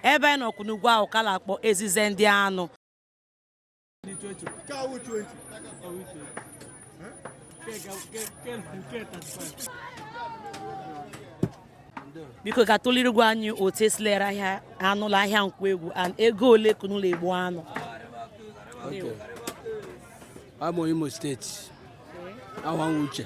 ebe anyị nọkwu n'ugwu ahụ ka na-akpọ ezize ndị anụ biko ga tụlirigwa anyị otu e si la-ere ahịa anụ l'ahịa Nkwoegwu and ego ole ka unu la-egbu anụ I'm Imo State. I want Uche.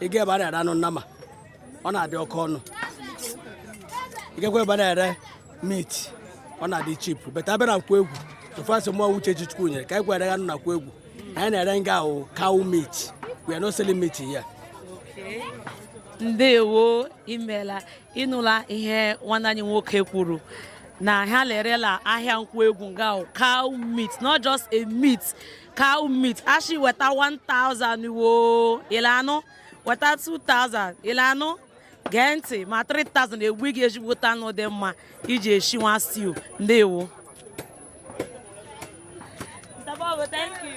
ị gaa ebe a na-ere anụ nnama ọ na-adị oke ọnụ ị gakwa ebe a na-ere meat ọ na-adị cheap but a bịa na Nkwoegwu ofu asị mụọ uche ji chukwu nyere ka anyị gwara anụ na Nkwoegwu anyị na-ere nga ahụ cow meat we are not selling meat here. ndewo imela ị nụla ihe nwanne anyị nwoke kwuru na ha la-ere l'ahịa Nkwoegwu nga ahụ cow meat not just a meat cow meat a shị weta 1000 woo ile anụ weta 2000 ile anụ gee ntị ma 3000 e gbuo gị ezigbote anụ dị mma i ji eshi nwa stew ndewo Mr. Bobo, thank you.